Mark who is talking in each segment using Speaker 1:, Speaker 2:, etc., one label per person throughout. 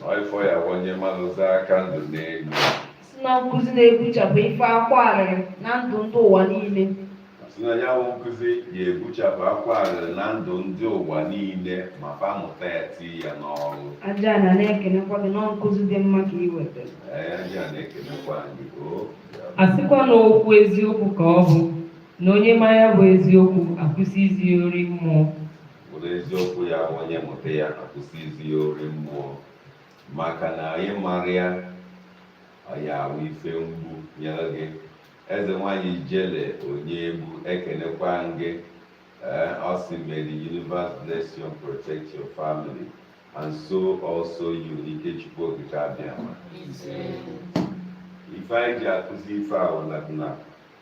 Speaker 1: N'ifọ ya onye mmadụ za aka ndụ n'elu. Si na nkụzi na-ebuchapụ ife akwa arịrị na ndụ ndị ụwa niile. Si na ya bụ nkụzi ga-ebuchapụ akwa arịrị na ndụ ndị ụwa niile ma fa mụta ya tii ya n'ọrụ. Ajana na-ekenekwa gị na nkụzi dị mma ka ị wetara. Ee, Ajana ekenekwa anyị o. A sịkwa na okwu eziokwu ka ọ bụ na onye ma ya bụ eziokwu akwụsị izi ori mmụọ. were
Speaker 2: eziokwu ya onye mụta ya akwụsị izi ya ori mmụọ maka na anyị mara ya ọ ya-awụ ife mgbu nyere gị eze nwanyị Ijele onye egwu ekenekwa gị ee ọ sị may the universe bless you and protect your family and so also you Ikechukwu Okike Abịama ife anyị ji akụzi ife a wụ na na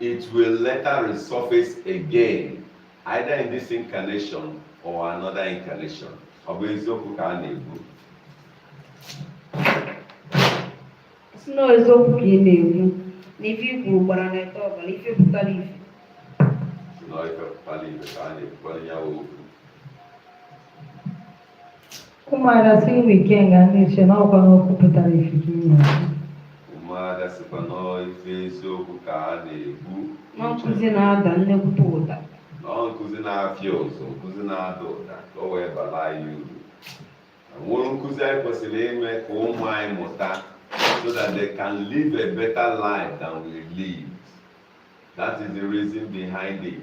Speaker 2: It will later resurface again, either in this incarnation or another incarnation. Ọ bụ eziokwu ka a na-ekwu.
Speaker 1: si na eziokwu ka ị na-ekwu na ife i kwuru gbara na ete ọbara ife pụtara ife Si na ọ ife pụtara ife ka a na-ekwukwara ya okwu. Ụmụada si unu ike nga ndị nche na ọkwa na okwu pụtara ife ka ị na-ekwu.
Speaker 2: Ụmụada sikwa na ife eziokwu ka a na-ekwu. Na nkụzi
Speaker 1: na-ada nnekwute ụda. Na nkụzi
Speaker 2: na-afịa ụzọ, nkụzi na-ada ụda ka o wee bara anyị uru. Ọ wụrụ nkụzi anyị kwesịrị ime ka ụmụ anyị mụta so that they can live a better life than we live. That is the reason behind it.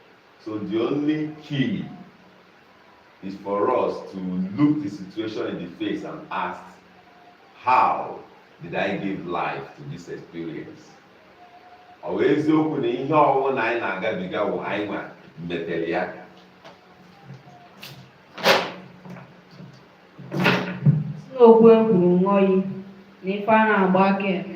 Speaker 2: So the only key is for us to look the situation in the face and ask, how did I give life to this experience? Ọ bụ eziokwu na ihe ọwụna anyị na-agabiga wụ anyị nwa metere ya
Speaker 1: si na okwu e kwuru ṅụọ iyi na ife a na-agba aka eme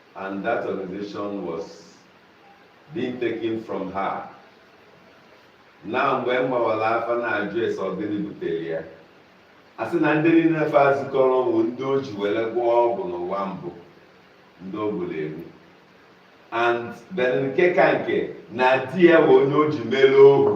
Speaker 2: And that organization was being taken from her. na mgbe m gbawara afa na-ajụ ese ọ gịnị butere ya a sị na ndị niile ife a zukọrọ bụ ndị o ji were gwọọ ọgwụ n'ụwa mbụ ndị o gburu egbu and then nke ka nke na di ya bụ onye o ji mere ohu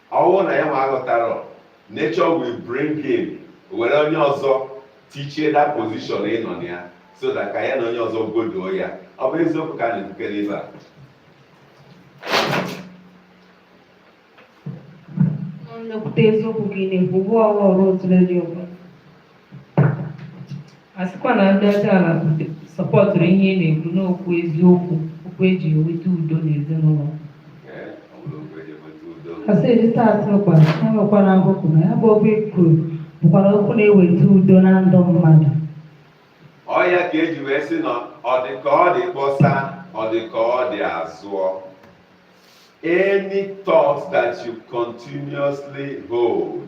Speaker 2: ọ wụ na ya ma aghọtarọ nature will bring in were onye ọzọ tichie that position ịnọ na ya so that ka ya na onye ọzọ goduo ya ọ bụ eziokwu ka a na-ekwukwara ebe a nnekwute eziokwu ka
Speaker 1: ị na-ekwu bụ ọrụ ọrụ otule dị ụgwọ asịkwa na ndị ọcha ala sọpọtụrụ ihe ị na-ekwu n'okwu eziokwu okwu eji eweta udo n'ezinụlọ asị edita atụrụkwa ha nwekwara akụkụ na ya bụ okwu e kwuru bụkwara okwu na-eweta udo na ndụ
Speaker 2: mmadụ ọ ya ka eji wee sị na ọ dị ka ọ dị kpọsa ọ dị ka ọ dị a zụọ any thought that you continuously hold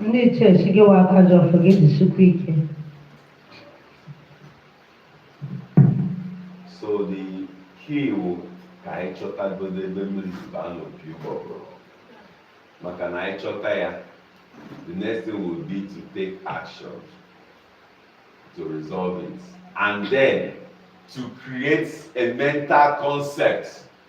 Speaker 1: ndị ichie sị gịwa aka ji ọfọ gị jisikwa
Speaker 2: ike so the key wụ ka anyị chọtagodo ebe mmiri si baa n'opi ụgbọgụrụ maka na anyị chọta ya the next thing will be to take action to resolve it and then to create a mental concept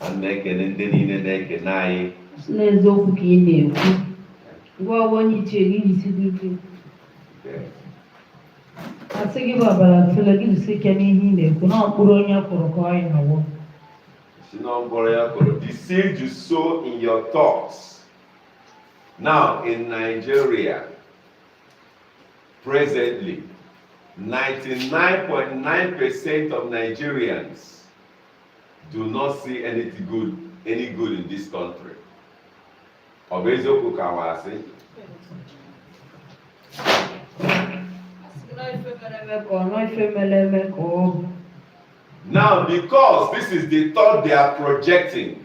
Speaker 2: a na-ekele ndị niile na-ekele anyị na eziokwu
Speaker 1: ka ị na-ekwu ngwa ọwa onye ichie gị jisi dị ike asị gị bụ ọbara tụle gị jisi ike n'ihe ị na-ekwu na mkpụrụ onye kụrụ ka ọ ya-awọ sị na mkpụrụ ya
Speaker 2: kụrụ the seed you sow in your thoughts now in Nigeria Presently, 99.9 percent of Nigerians do not see any good, any good in this country. Ọ bụ eziokwu ka wa asị? Now, because this is the thought they are projecting,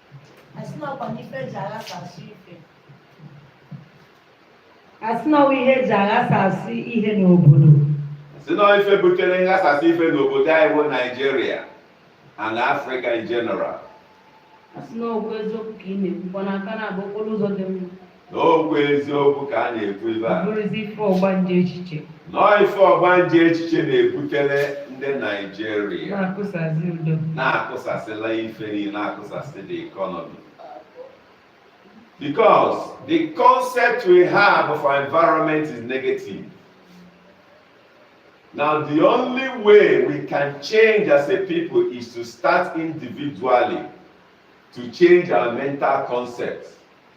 Speaker 1: asị na ọkwa n'ife eji aghasasị ife asị na ọ wụ ihe eji aghasasị ihe n'obodo
Speaker 2: asị na ife butere nghasasị ife n'obodo anyị bụ Nigeria and Africa in general asị
Speaker 1: na okwu eziokwu ka ị na-ekwukwa n'aka na-abụ okporo ụzọ dị mma
Speaker 2: n'okwu eziokwu ka a na-ekwu ebe a bụrụzi ife
Speaker 1: ọgbanje echiche nọọ
Speaker 2: ife ọgbanje echiche na-ebutere ndị Nigeria na-akụsasị udo
Speaker 1: na-akụsasịla
Speaker 2: ife niile na-akụsasị the economy because the concept we have of our environment is negative now the only way we can change as a people is to start individually to change our mental concept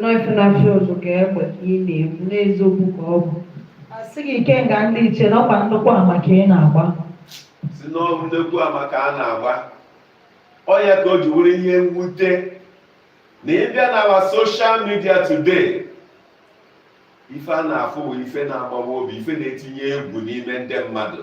Speaker 1: nọọ ife na-afịa ụzụ ka egbe ka ị na-ekwu na eziokwu ka ọ bụ asị gị ikenga ndị ichie na ọkwa nnukwu ama ka ị na-agba sị
Speaker 2: na ọ bụ nnekwu ama ka a na-agba ọ ya ka o ji wụrụ ihe mwute na ị bịa na our social media today ife a na-afụ bụ ife na-agbawa obi ife na-etinye egwu n'ime ndị mmadụ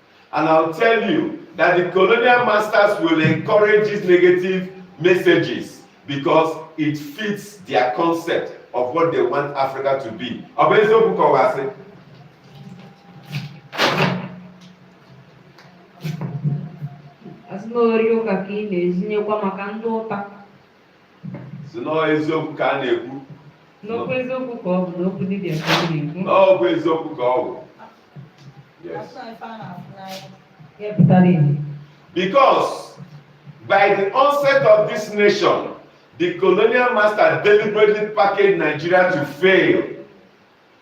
Speaker 2: And I'll tell you that the colonial masters will encourage these negative messages because it fits their concept of what they want Africa to be. Ọ bụ eziokwu ka ọ wụ. Asị na ozi ụka ka
Speaker 1: ị na-ezinyekwa maka nghọta.
Speaker 2: si n'ọ eziokwu ka a
Speaker 1: na-ekwu n'okwu eziokwu ka ọ
Speaker 2: bụ n'okwu
Speaker 1: dibịa ka ọ na-ekwu n'okwu eziokwu ka ọ bụ
Speaker 2: yes ya pụtara ihe because by the onset of this nation the colonial master deliberately packaged nigeria to fail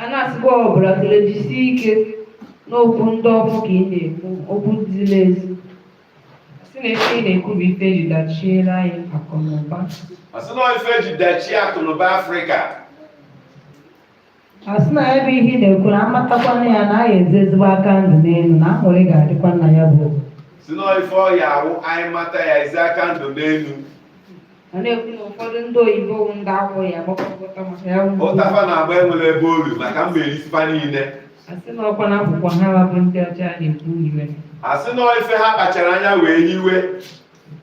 Speaker 1: a na-asịkwa ọbụla kele jisie ike n'okwu ndị ọkụ ka ị na-ekwu okwu ziri ezi sị na ife ị na-ekwu bụ ife eji dachiere anyị akụnụba asị na ife
Speaker 2: eji dachie akụnụba
Speaker 1: afrịka asị na ya bụ ihe ị na-ekwu na amatakwana ya na anyị ezi ezigbo aka ndụ n'elu na aṅụrị ga-adịkwa nna ya bụ si na ife
Speaker 2: ọ ya-awụ anyị mata ya ezi aka ndụ n'elu
Speaker 1: ọ na-ekwu na ụfọdụ ndị oyibo bụ ndị akwụ ya agbakọta
Speaker 2: maka ya bụ ụtafa na-agba enwere ebe olu maka mmeri ife niile asị na ọkwa na
Speaker 1: akwụkwọ ha wa bụ ndị ọcha na-ekwu iwe
Speaker 2: asị na ife ha kpachara anya wee hiwe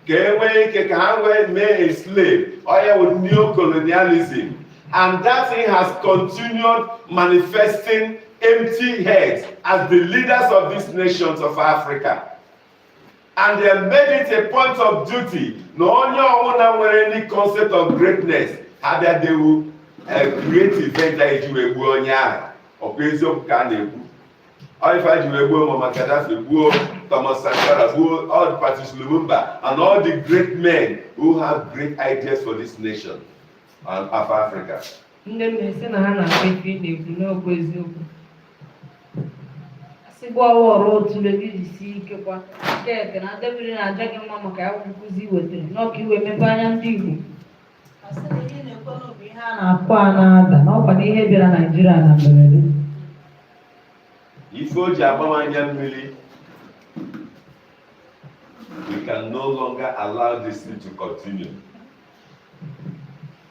Speaker 2: ka e nwee ike ka ha wee mee a slave oya with neocolonialism and that thing has continued manifesting empty heads as the leaders of these nations of Africa. and they made it a point of duty na onye ọbụla nwere any concept of greatness ha abịa they will create event a eji wee gbuo onye ahụ ọkwa eziokwu ka a na-ekwu ọ ife ha ji wee gbuo Muammar Gaddafi gbuo Thomas Sankara gbuo all the Patrice Lumumba and all the great men who have great ideas for this nation and of Africa Ndị mmụọ
Speaker 1: sị na ha na-akpa ife ị na-ekwu n'okwu eziokwu. Asịgbu ọwa ọrụ otu ebe iji sie ike kwa nke eke na adebiri na-aja gị mma maka ya nkụzi i wetara n'ọ ka i wee mepe anya ndị Igbo. Asị na ihe na-ekwe n'obi ihe a na-akụ a na-ada na ọkwa na ihe bịara Naịjirịa na
Speaker 2: mberede. Ife o ji agba m anya mmiri. We can no longer allow this thing to continue.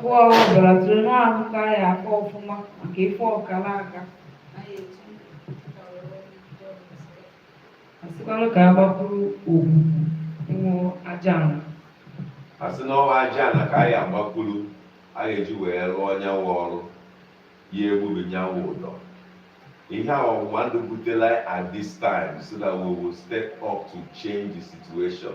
Speaker 1: Kwụọ ọbara tụrụ n'ahụ ka ya akọ ọfụma maka ife ọkara aka. Asịkwanụ ka a gbakwuru ogwugwu ịṅụ aja ana. a
Speaker 2: sị na ọwa aja ana ka anyị agbakwuru a ga-eji wee rụọ nya wụ ọrụ ya egbube nya wụ ụdọ ihe a ọgbụgba ndụ butela at this time so that we will step up to change the situation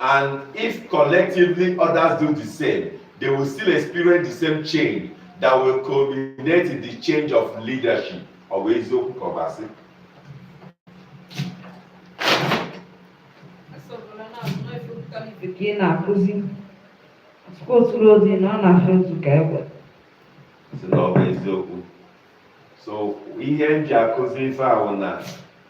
Speaker 2: And if collectively others do the same, they will still experience the same change that will culminate in the change of leadership. Ọ bụ eziokwu ka ọ bụ asị?
Speaker 1: ka ị na-akụzi tupu oturu ozi na ọ na-afụ otu ka egbe Sị
Speaker 2: na ọ bụ eziokwu. So ihe m ji akụzi ife ahụ na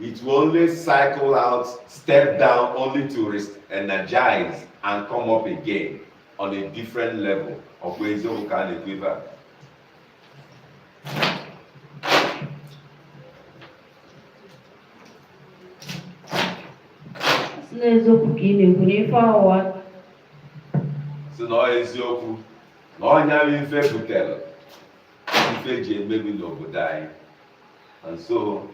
Speaker 2: It will only cycle out, step down, only to re-energize and come up again on a different level ọ bụ eziokwu ka a na-ekwu ife a. si n'eziokwu ka ị na-ekwu n'ife ọwa si na ọ eziokwu na ọ nya bụ ife butere ife ji emebi n'obodo anyị And so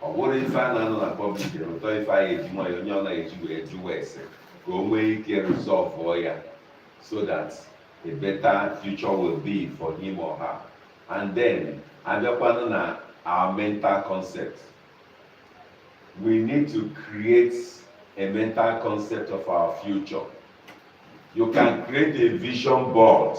Speaker 2: ọ bụrụ ife a na-anọ na public rụtọ ife a ga-eji nwayọ onye ọ na-eji wee jụwa ese ka o nwee ike resolve ya so that a better future will be for him or her and then abịakwanụ na our mental concept we need to create a mental concept of our future you can create a vision board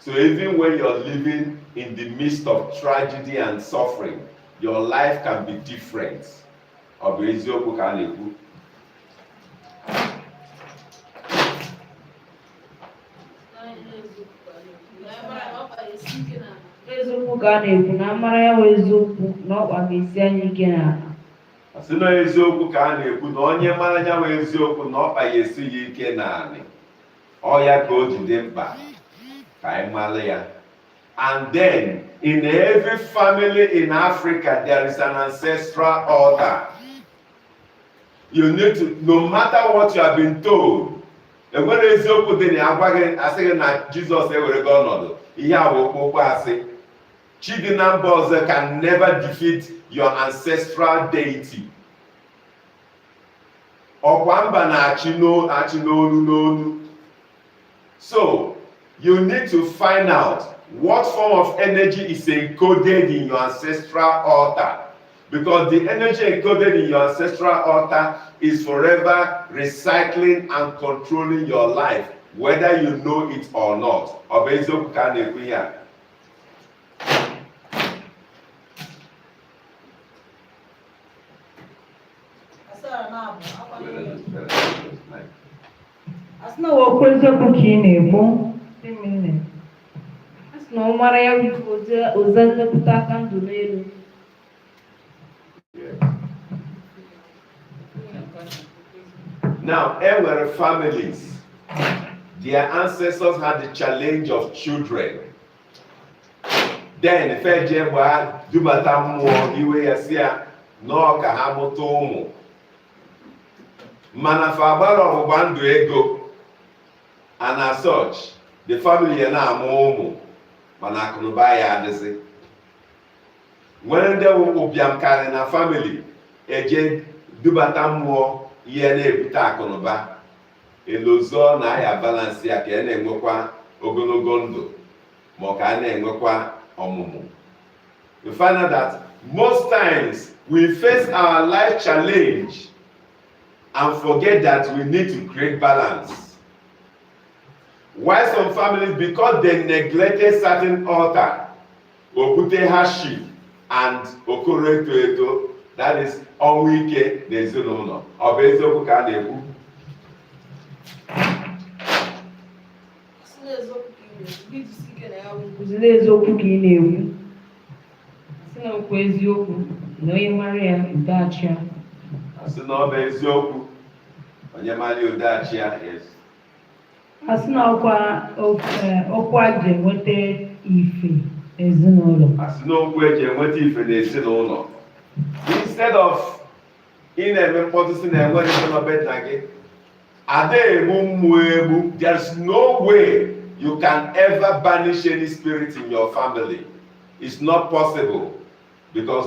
Speaker 2: So even when you're living in the midst of tragedy and suffering, your life can be different. Ọ bụ eziokwu ka a na-ekwu. Eziokwu ka a na-ekwu na
Speaker 1: a mara ya bụ eziokwu na ọkpa ga-esi anyị ike n'ala.
Speaker 2: Sị na eziokwu ka a na-ekwu na onye mara ya bụ eziokwu na ọkpa ga-esi ya ike n'ala. ọ ya ka o ji dị mkpa ka anyị mara ya and then in every family in Africa there is an ancestral altar you need to no matter what you have been told e nwere eziokwu dị na ya a gwa gị a sị gị na Jizọs ewerego ọnọdụ ihe a bụ okpokpo asị chi dị na mba ọzọ can never defeat your ancestral deity ọkwa mba na-achị n'olu n'olu so you need to find out what form of energy is encoded in your ancestral altar because the energy encoded in your ancestral altar is forever recycling and controlling your life whether you know it or not ọ bụ eziokwu ka a na-ekwu ihe a
Speaker 1: asị na ọ bụ eziokwu ka ị na-ekwu asị na ọ mara ya bụ oze nlekọta aka ndụ
Speaker 2: n'elu Now, where families, their ancestors had the challenge of children. then fa eje gbaa dubata mmụọ iwe ya sị ya nọọ ka ha mụta ụmụ mana fa agbarọ ọgbụgba ndụ ego and as such the family ya na-amụ ụmụ mana akụnụba ya adịzi nwere ndị wụ ụbịam karị na family eje dubata mmụọ ihe na-ebute akụnụba elozọ na a ya balance ya ka a na-enwekwa ogologo ndụ ma ọ ka a na-enwekwa ọmụmụ we find out that most times we face our life challenge and forget that we need to create balance why some families because they neglected certain altar o kute hardship and okoro eto eto that is ọnwụ ike na ezinụlọ ọ bụ eziokwu ka a na-ekwu
Speaker 1: Asị na eziokwu ka ị na-ekwu sị na okwu eziokwu na onye mara ya udo achị ya asị na ọ
Speaker 2: bụ eziokwu onye mara ya udo achị ya yes
Speaker 1: asị na okwu eji enweta ife n'ezinụlọ asị na okwu eji
Speaker 2: enweta ife n'ezinụlọ instead of ị na-eme mkpọtụ sị na enwere ife nọ be nna gị ada egbu mmụọ egbu there's no way you can ever banish any spirit in your family it's not possible because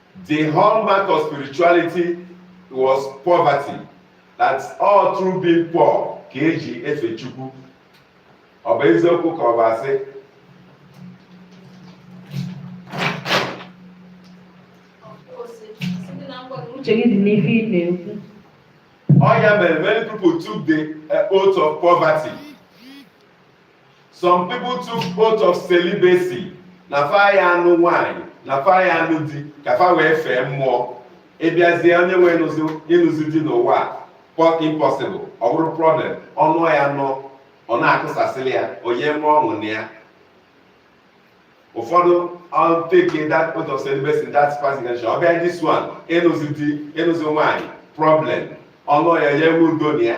Speaker 2: The hallmark of spirituality was poverty. That ọ through being poor ka eji efe Chukwu. Ọ bụ eziokwu ka ọ bụ asị?
Speaker 1: Uche gị dị n'ife ị na-ekwu. Ọ
Speaker 2: ya mere many people took the uh, oath of poverty. some people took oath of celibacy na fa ya anụ nwanyị na fa ya anụ di ka fa wee fee mmụọ ịbịazie onye nwe ịnụzi di n'ụwa impossible ọ bụrụ problem ọ nụọ ya nọ ọ na-akụsasịrị ya onye mụọ ọṅụ na ya ụfọdụ take that oath of celibacy in that past incarnation ọ bịa this one ịnụzi di ịnụzi nwanyị problem ọ nụọ ya ya enwe udo na ya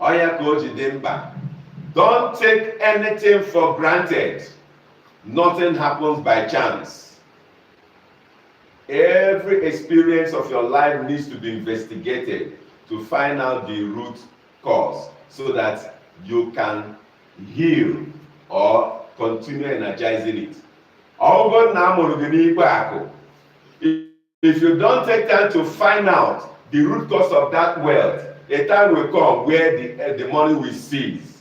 Speaker 2: ọ ya ka o ji dị mkpa don't take anything for granted nothing happens by chance every experience of your life needs to be investigated to find out the root cause so that you can heal or continue energizing it ọ bụrụ na a mụrụ gị n'ikpo akụ If you don't take time to find out the root cause of that wealth, a time will come where the, uh, the money will cease.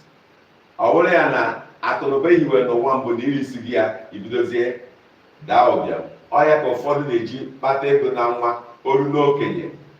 Speaker 2: Ọ bụrụ ya na akụnụba ihiwe n'ụwa mbụ na irisi gị ya ibidozie daa ụbịam. Ọ ya ka ụfọdụ na-eji kpata ego na nwa o ru n'okenye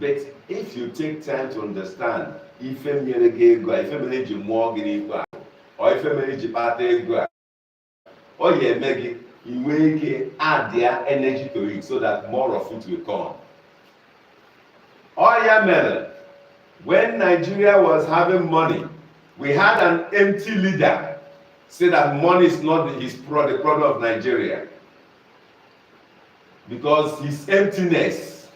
Speaker 2: but if you take time to understand ife mere gị ego a ife mere eji mụọ gị n'ikwu ahụ ọ ife mere eji kpata ego a ọ ya eme gị inwe ike addịa energy to it so that more of it will come ọ ya mere when Nigeria was having money we had an empty leader say that money is not his pro the problem of Nigeria Because his emptiness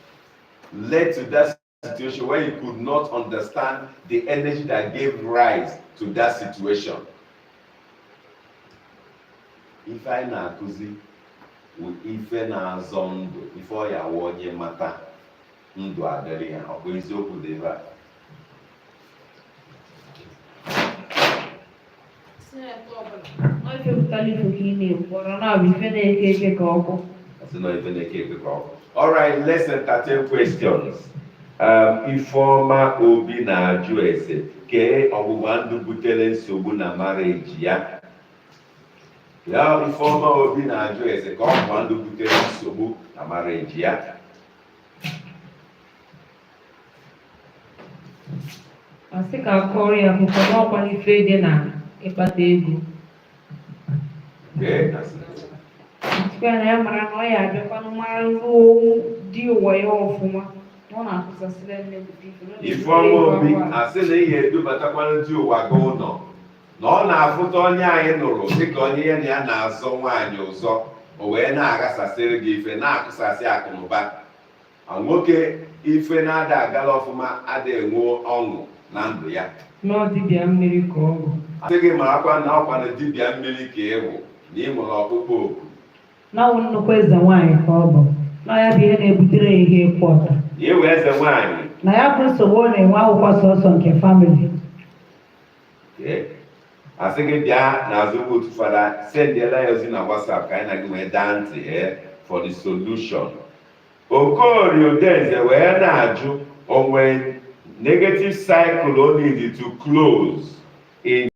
Speaker 2: led to that situation where he could not understand the energy that gave rise to that situation. Ife anyị na-akụzi bụ ife na-azọ ndụ ife ọ ya-abụ onye mata ndụ adịrị ya ọ bụ eziokwu dị ebe a All right, let's entertain questions. Um, Ifeoma Obi na-ajụ ese kee ọgbụgba ndụ butere nsogbu na marriage ya ya Ifeoma Obi na-ajụ ese ka ọgbụgba ndụ butere nsogbu na marriage ya
Speaker 1: asị ka akọrọ ya akụkọ n'ọkwa ife dị na ịkpata ego sịkwa na ya mara na ọ ya abịakwanụ mara ruo di ụwa ya ọfụma na ọ na-akụsasịrị nne bụ Ifeoma Obi
Speaker 2: asị na ị ya-edubatakwanụ di ụwa gị ụlọ na ọ na-afụta onye a ị nụrụ dịka onye ya na ya na-azọ nwaanyị ụzọ o wee na-aghasasịrị gị ife na-akụsasị akụnụba ma nwoke ife na-ada agala ọfụma ada enwe ọṅụ na ndụ ya na ọ dibịa
Speaker 1: mmiri ka ọ bụ asị gị marakwa
Speaker 2: na ọkwanụ dibịa mmiri ka ị bụ na ị nwere ọkpụkpọ oku na ọ bụ
Speaker 1: nnukwu eze nwaanyị ka ọ bụ na ya bụ ihe na-ebutere ya ihe ịkwụ ọta na iwe eze nwaanyị
Speaker 2: na ya bụ nsogbu
Speaker 1: ọ na-enwe abụkwọ sọsọ nke family
Speaker 2: asị gị bịa n'azụ kpọtụ fada sendịela ya ozi na WhatsApp ka anyị na gị wee daa ntị ee for the solution Okorie Udenze wee na-ajụ o nwe negative cycle o need to close in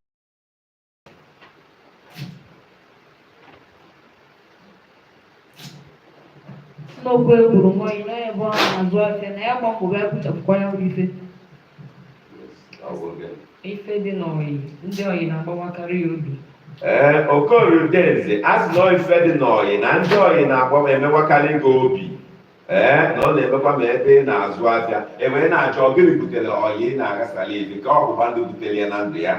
Speaker 2: n'okwu egburu nwaanyị n'ebe ọ na-azụ afịa
Speaker 1: na ya gbapụrụ ya kpochapụkwa ya bụ ife ife dị n'ọyị ndị ọyị na-agbawakarị ya obi
Speaker 2: ee eh, okorie udenze a sị na ife dị n'ọyị na ndị ọyị na-agbawa emewakarị gị obi ee eh, na ọ na-emekwa ma ebe ị na-azụ afịa ewee ị na-achọ gịnị butere ọyị ị na-aghasara ebi ka ọgbụgba ndụ butere ya na ndụ ya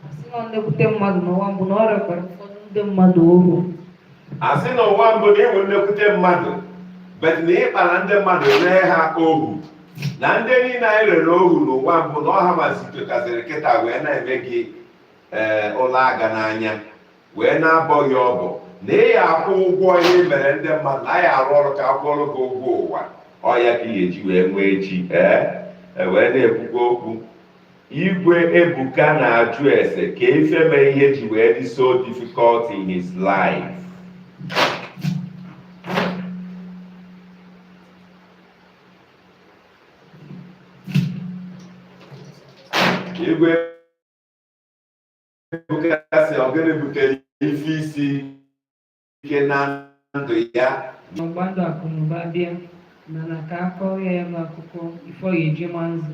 Speaker 1: asị na nnekwute mmadụ
Speaker 2: n'ụwa mbụ na ọ rekwara ụfọdụ ndị mmadụ ohu asị na ụwa mbụ na ị bụ nnekwute mmadụ but na ị kpara ndị mmadụ ree ha ohu na ndị niile anyị rere ohu n'ụwa mbụ na ọ ha ma zitokaziri kịta wee na-eme gị ee ụla aga n'anya wee na-abọ gị ọbọ na ị ya akwụ ụgwọ ihe i mere ndị mmadụ na ị ya arụ ọrụ ka akwụọrụ gị ụgwọ ụwa ọ ya ka ị ga-eji wee nwee echi ee e wee na-ekwukwa okwu Igwe Ebuka na-ajụ ese ka ife mee ihe ji wee dị so difficult in his life. Igwe Ebuka sị ọ gịnị butere ife isi ike na
Speaker 1: ndụ
Speaker 2: ya Ọgbandụ
Speaker 1: Akụnụba bịa mana ka a kọrọ ya ya bụ akụkọ ifo ya eji ma nzu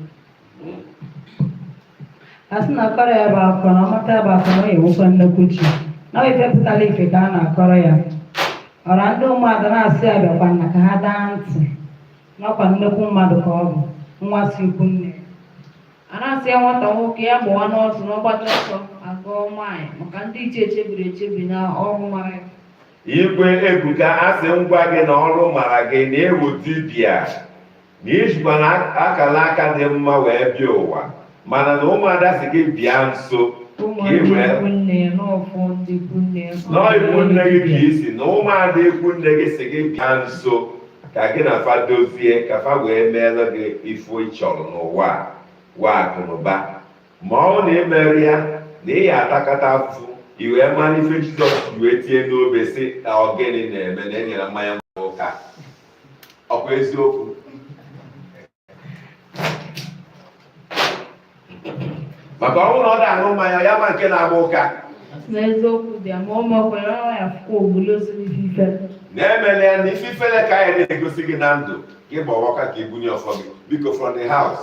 Speaker 1: a sị na a kọrọ ya bụ akụkọ na ọ mata ya bụ akụkọ na ọ ya enwekwa nnukwu chi na ọ ife pụtara ife ka a na-akọrọ ya ọra ndị mmadụ na-asị ya bịakwa na ka ha daa ntị na ọ kwa nnukwu mmadụ ka ọ bụ nwa si ikwu nne a na-asị ya nwata nwoke ya gbawa n'ọsọ na ọ gbacha ọsọ a gụọ maịl maka ndị iche echebiri echebi na ọrụ mara ya Igwe
Speaker 2: Ebuka asị ngwa gị na ọrụ mara gị na ị wụ dibịa na i jikwa na akala aka dị mma wee bịa ụwa mana na ụmụada sị gị bịa nso n'ikwu nne gị ka isi na ụmụada ikwu nne gị sị gị bịa nso ka gị na fa dozie ka fa wee meere gị ife ị chọrọ n'ụwa a wa Akụnụba ma ọ na i merọ ya na ị ya atakata afụfụ i wee mara ife Jizọs ji wee tie n'obe sị na ọ gịnị na-eme na enyere mmanya gbara ụka ọkwa eziokwu maka ọ bụrụ na ọ da-aṅụ mmanya ya ma nke na-agba ụka na
Speaker 1: eziokwu dị ya ma ọ makwara ọ ya fụkwa ogbuli ozuru ife ife na-emele
Speaker 2: ya na ife ifele ka anyị na-egosi gị na ndụ ka ị gbawa ụka ka i bunye ọfọ gị biko from the house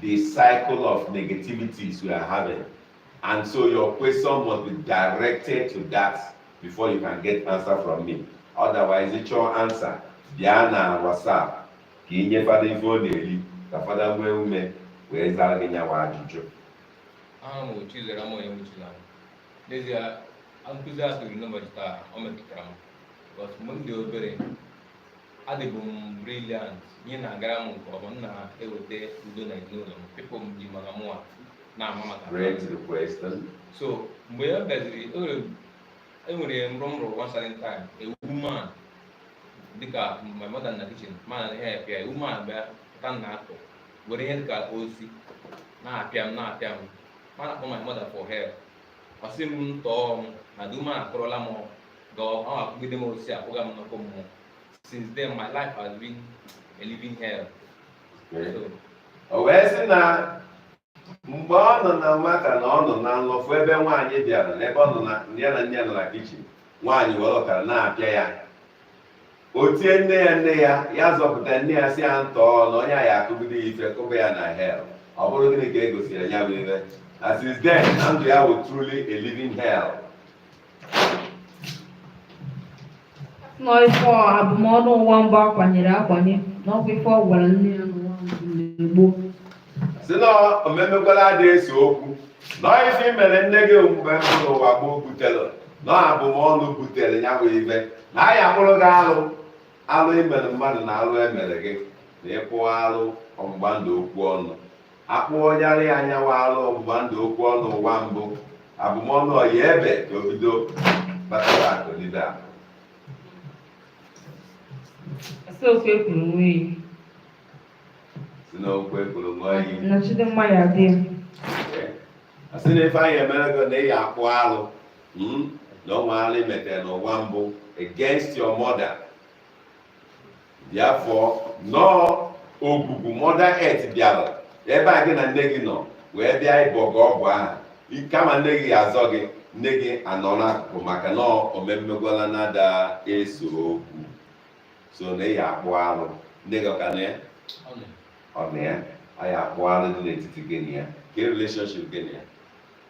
Speaker 2: the cycle of negativities we are having. And so your question must be directed to that before you can get answer from me. Otherwise, it's your answer. Bịa na WhatsApp ka ị nye fada ife ọ na-eri ka fada nwee ume wee zara gị nyawa ajụjụ. Aha
Speaker 3: m wụ Chizaram Onyewuchi na n'ezie nkụzi a kụziri n'ụbọchị taa ọ metụtara m. But mgbe m dị obere adịbụ m brilliant ihe na-agara m nke ọma m na-eweta udo na ezinụlọ m people m ji maka mụwa na-ama m aka so mgbe ya bịaziri enwere ihe m rọ nrọ one certain time a woman dịka my mother na kitchen m ana help ya a woman bịa pụta na akụ were ihe dịka osisi na-apịa m na-apịa m m ana-akpọ my mother for help ọ sị m ntọọ m na the woman akụrụla m ọ ga akụgide m osisi akụga m n'ọkụ mmụọ since then my life has been a living
Speaker 2: hell so o wee sị na mgbe ọ nọ na nwata na ọ nọ na nlọ fụ ebe nwaanyị bịara n'ebe ọ nọ na ya na nne ya nọ na kitchen nwaanyị were mkpara na-apịa ya o tie nne ya nne ya ya zọpụta nne ya sị ya ntọọ na onye a ya akụgide ya ife kụba ya na hell ọ bụrụ gịnị ka e gosiri ya bụ ife na since then na ndụ ya bụ truly a living hell
Speaker 1: na ọ ife abụmọnụ ụwa mbụ akwanyere akwanye na ọkwa ife ọ gwara nne ya n'ụwa mbụ sị
Speaker 2: na omemmegwala adị ese okwu na ife i mere nne gị mgbe mbụ n'ụwa gboo butere na abụmọnụ butere ya bụ ife na anyị akpụrụ gị alụ alụ i mere mmadụ na alụ e mere gị na ịkpụ alụ ọgbụgba ndụ okwu ọnụ akpụọ ya arụ anyanwụ alụ ọgbụgba ndụ okwu ọnụ ụwa mbụ abụmọnụ ọ ya ebe ka o bido batara akụnide a
Speaker 1: si n'okwu ekwuru ṅụọ iyi
Speaker 2: si n'okwu ekwuru ṅụọ iyi nnọchite mma ya dị a sị na ife anyị emere gị na ị ya akpụ alụ hmm? na o nwere alụ i metere n'ụwa mbụ against your mother therefore na ọ ogwugwu mother earth bịara ebe a gị na nne gị nọ wee bịa ịbọ gị ọgwụ ahụ I- kama nne gị ya-azọ gị nne gị anọ n'akụkụ maka na omemmegwala na ada ese okwu so na ị ya-akpụ alụ nne gị ọka na ya ọ na ya anyị akpụ alụ dị n'etiti gị na ya ka relationship gị na ya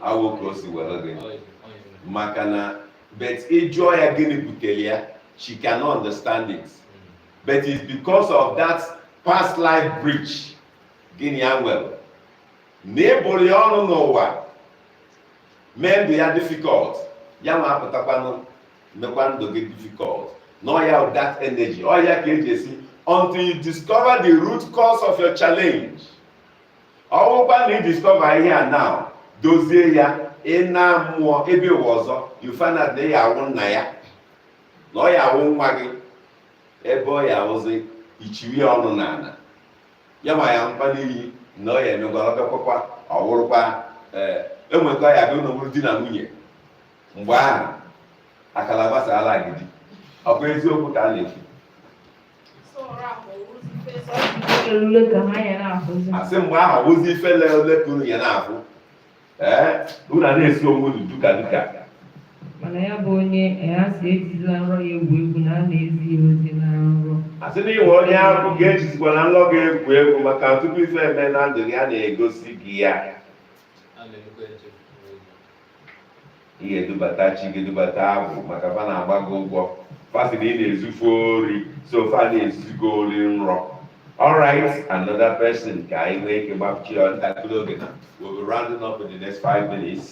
Speaker 2: awụ ka o si were gị maka na but ịjụọ ya gịnị butere ya she cannot understand it but it's because of that past life breach gị na ya nwere na ị bụrụ ya ọnụ n'ụwa mee ndụ ya difficult ya nwa apụtakwanụ mekwa ndụ gị difficult na ọ ya that energy ọ ya ka e ji asị until you discover the root cause of your challenge ọ bụrụkwa na ị discover ihe a now dozie ya ị naa mmụọ ebe ụwa ọzọ you find out na ị ya awụ nna ya na ọ ya awụ nwa gị ebe ọ ya awụzi ichiri ya ọnụ n'ala ya ma ya mkpa n'ihi na ọ ya emegwara bịakwakwa ọ wụrụkwa ee e nwee ka ọ ya abụ unu abụrụ di na nwunye mgbe ahụ akala gbasara agidi ọkwa eziokwu ka a na-ekwu asị mgbe ahụ bụzi ife le ole ka unu ya na-afụ ee unu a na-esi onwe unu duka duka mana
Speaker 1: ya bụ onye ya si ejizila nrọ ya egwu egwu na a na-ezi ya ozi na nrọ asị na ị wụ
Speaker 2: onye ahụ gị ejizikwala nlọ gị egwu egwu maka tupu ife eme na ndụ gị a na-egosi gị ya ị ga-edubata chi gị dubata agwụ maka fa na-agba gị ụgwọ fa sị na ị na-ezu fa ori so fa na-ezuzi gị ori nrọ alright another person ka anyị nwee ike gbachie ya ntakịrị oge na we'll be rounding up in the next five minutes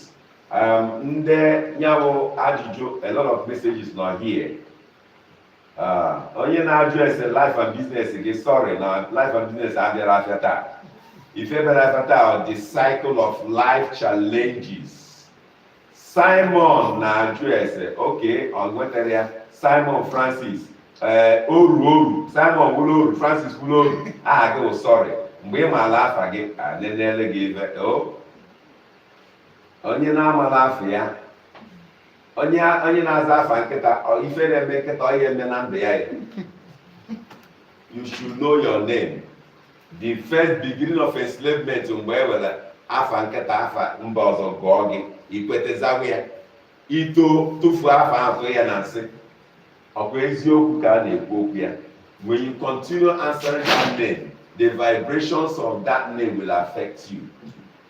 Speaker 2: um, ndị nyabụ ajụjụ a lot of messages nọ here Ah, onye na-ajụ ese life and business gị sorry na life and business abịara afịa taa ife bịara afịa taa the cycle of life challenges simon na-ajụ ese okay ọ nwetara ya simon francis ee eh, oru oru simon wụrụ oru francis wụrụ oru aha gị wụ sorry mgbe ị maala afa gị anenele gị ife oh. onye na-amala afa ya onye onye na-aza afa nkịta ọ- ife na-eme nkịta ọ ya eme na ndụ ya ya you should know your name the first beginning of enslavement mgbe e were afa nkịta afa mba ọzọ gụọ gị i kwete zawa ya ito tụfuo afa ahụ tụọ ya na nsị ọkwa eziokwu ka a na-ekwu ọkwa ya when you continue answering that name the vibrations of that name will affect you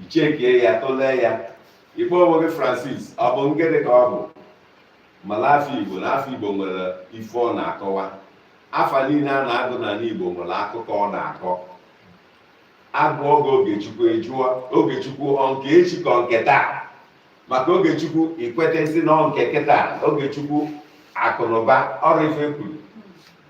Speaker 2: ị checkie ya tụlee ya ịkpọ onwe gị francis ọ bụ ngịrị ka ọ bụ mala afa igbo na afa igbo nwere ife ọ na-akọwa afa niile a na-agụ n'ala igbo nwere akụkọ ọ na-akọ a gụọ oge ogechukwu a jụọ ogechukwu ọ nke echi ka ọ nke taa maka ogechukwu i kwetezi na ọ nke kịta ogechukwu akụnụba ọrụ ife e kwuru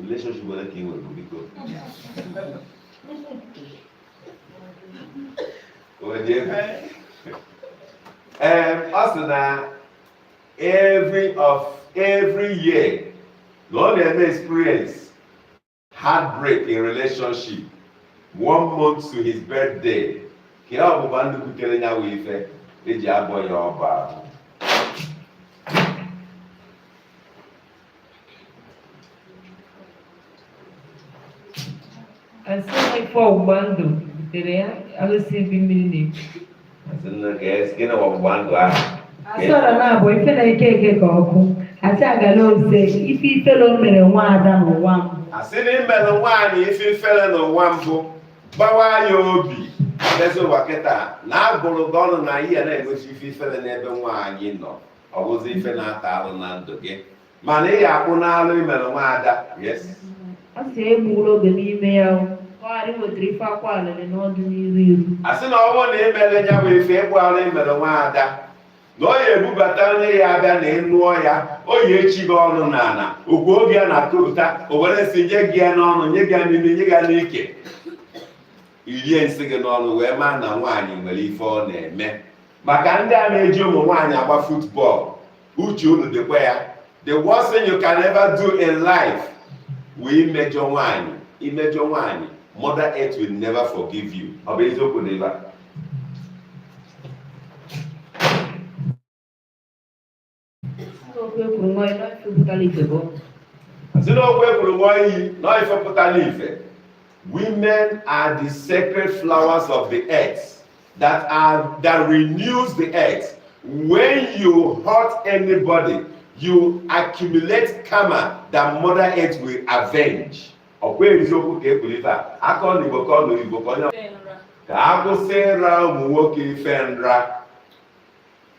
Speaker 4: relationship ole
Speaker 2: ka ị nwere biko onye ee ọ sị na every of every year na ọ na-experience heartbreak in relationship one month to his birthday ka ya ọgbụgba ndụ butere ya wụ ife e ji abọ ya ọbọ ahụ
Speaker 1: asị na ife ọgbụgba ndụ butere ya alụsị ebi mmiri na-ekwu Asị nne
Speaker 2: ka
Speaker 1: esi gịnị
Speaker 2: bụ ọgbụgba ndụ ahụ asọrọ na abụ
Speaker 1: ife na ike eke ka ọkụ asị agala ose ife ifele o mere nwa ada n'ụwa mbụ asị na
Speaker 2: imelụ nwaanyị ife ifere n'ụwa mbụ gbawa ya obi ndezi ụwa kịta na a bụrụ gị ọnụ na ị ya na-egosi ife ifere n'ebe nwaanyị nọ ọ bụzi ife na-ata alụ na ndụ gị mana ị ga-akpụ n'alụ imere nwaada yes a
Speaker 1: sị egbula oge n'ime ya o ka ọ ghara iwetara ife akwa
Speaker 2: alịrị n'ọdịniru a sị na ọ bụrụ na imere ya bụ ife ịkpụ alụ imere nwaada na ọ ya ebubata onye ya abịa na ịnụọ ya ọ ya echi gị ọnụ n'ala okwu oge ya na-atụpụta o were nsị nye gị ya n'ọnụ nye gị ya n'imi nye gị ya n'ike irie nsị gị n'ọnụ wee maa na nwaanyị nwere ife ọ na-eme maka ndị a na-eji ụmụ nwaanyị agba football uche unu dịkwa ya the worst thing you can ever do in life wụ imejọ nwaanyị imejọ nwaanyị mother earth will never forgive you ọ bụ eziokwu n'ebe a
Speaker 1: asị
Speaker 2: na okwu ekwuru ṅụọ iyi na ife pụtara ife women are the sacred flowers of the earth that are that renews the earth when you hurt anybody you accumulate karma that mother earth will avenge ọkwa eziokwu ka ekwuru ife a aka ọ na igbo ka ọ nụrụ igbo ka onye ka akwụsị ịra ụmụ nwoke ife nra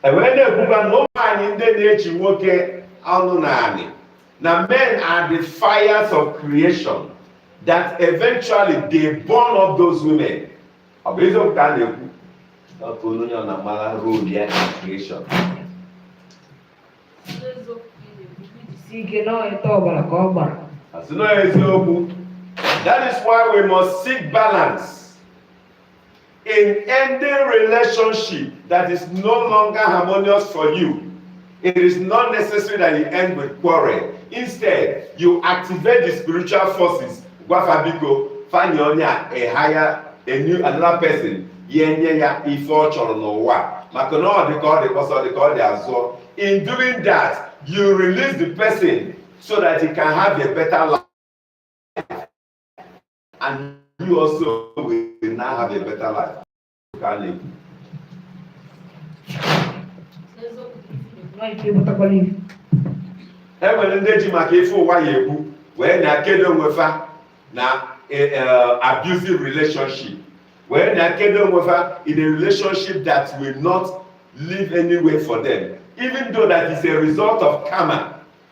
Speaker 2: ewee na-ekwuba na ụmụ nwaanyị ndị na-echi nwoke ọnụ n'anị na men are the fires of creation that eventually they burn up those women ọ bụ eziokwu ka a na-ekwu ọkụ onye ọ na-amara role ya na
Speaker 1: creation asị na eziokwu
Speaker 2: that is why we must seek balance in ending relationship that is no longer harmonious for you, it is not necessary that you end with quarrel. Instead, you activate the spiritual forces. Gwa fa biko, fa nye onye a, a higher, a new, another person, ya enye ya ife ọ chọrọ n'ụwa. Maka na ọ dị ka ọ dị kpọsa, ọ dị ka ọ dị azụọ. In doing that, you release the person so that he can have a better life. and you also will now have a better life ka a na-ekwu e nwere ndị ji maka ife ụwa ya ekwu wee na-akedo onwe fa na e, e, abusive relationship wee na-akedo onwe fa in a relationship that will not lead anywhere for them even though that is a result of karma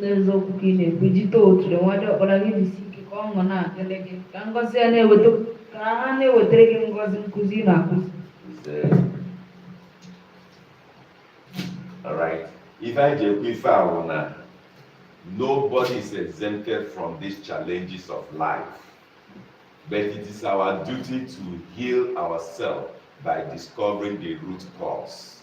Speaker 1: n'eziokwu ka ị na-ekwu iji too otu nwa dị ọkpara gị jisi ike ka ọṅụ na-adịrị gị ka ngọzi ya na-eweta ka ha na-ewetara gị ngọzi nkụzi ị na-akụzi
Speaker 2: Alright. Ife m ji ekwu ife a, na nobody is exempted from these challenges of life. But it is our duty to heal ourselves by discovering the root cause.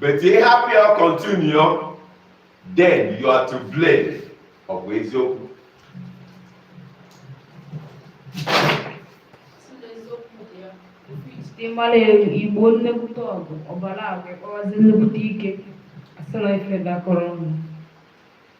Speaker 2: but ị hapụ ya continue then you are to blame ọ bụ eziokwu
Speaker 1: dị mara igbo nnekwute ọgụ ọbara agwa kpọwazi nnekwute ike asị na ife dakọrọ ọnụ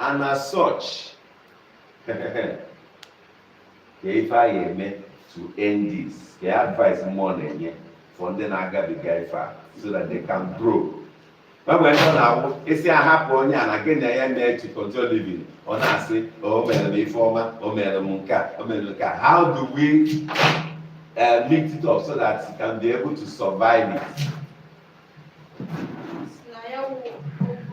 Speaker 2: and as such ka ife a ga-eme to end this ka advice mụ na-enye for ndị na-agabiga ife a so that they can grow mgbe ndị na-awụ isi ahapụ onye a na gị na ya mee to control living ọ na-asị o mere m ife ọma o mere m nke a o mere m nke a how do we uh, mix it up so that you can be able to survive it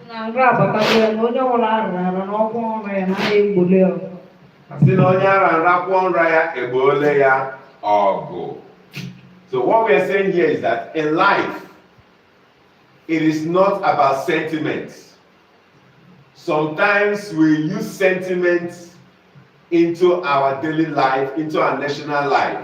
Speaker 2: na nrọ abatago ya na onye ọbụla arụrụ arụ na ọkwụ ọrụ ya na ya egboole ya ọgụ. sị na onye a ra nra kwụọ nra ya egboole ya ọgụ so what we are saying here is that in life it is not about sentiment sometimes we use sentiment into our daily life into our national life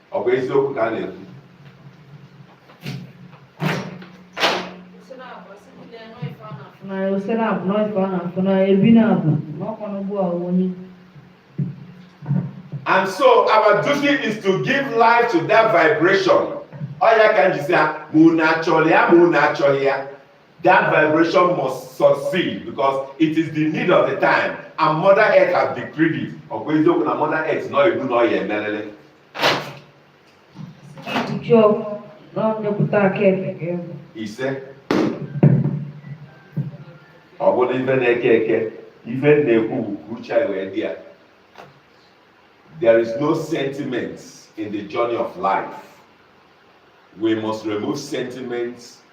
Speaker 2: ọ bụ eziokwu ka a na-ekwu
Speaker 1: na ose na-abụ na ife a na-afụ na ebi na-abụ na ọkwa n'ugbu a
Speaker 2: onye And so our duty is to give life to that vibration. Ọ ya ka m ji sị ya ma unu achọrọ ya ma unu achọghị ya That vibration must succeed because it is the need of the time and Mother Earth has decreed it. Ọ bụ eziokwu na Mother Earth nọ ebu na ọ ya-emelele. Ijiji
Speaker 1: ọgwụ na ọnyepụta aka
Speaker 2: ebe ga-egwu. Ise. Ọ bụrụ ife na-eke eke, ife m na-ekwu bụ ka uche anyị wee dị ya. There is no sentiment in the journey of life. We must remove sentiments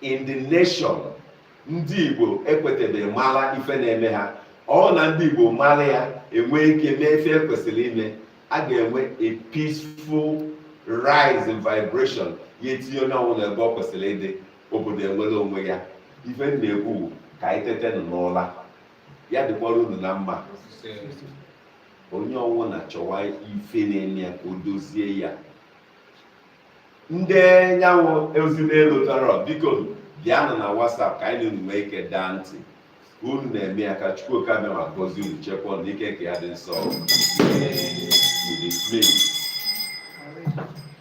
Speaker 2: in the nation ndị igbo ekwetebeghị mara ife na-eme ha ọ wụ na ndị igbo mara ya e nwee ike mee ife e kwesịrị ime a ga-enwe a peaceful rise in vibration ya etinye onye ọbụla ebe ọ kwesịrị ịdị obodo enwere onwe ya ife m na-ekwu ka anyị tetenụ n'ụla ya dịkwara unu na mma onye ọwụna chọwa ife na-eme ya ka o dozie ya ndị nyanwụ ozi n'elu tọrọ biko bịanụ na WhatsApp ka anyị na unu nwee ike daa ntị unu na-eme ya ka Chukwu Oke Abịama gọzie unu chekwa na ike nke ya dị nsọ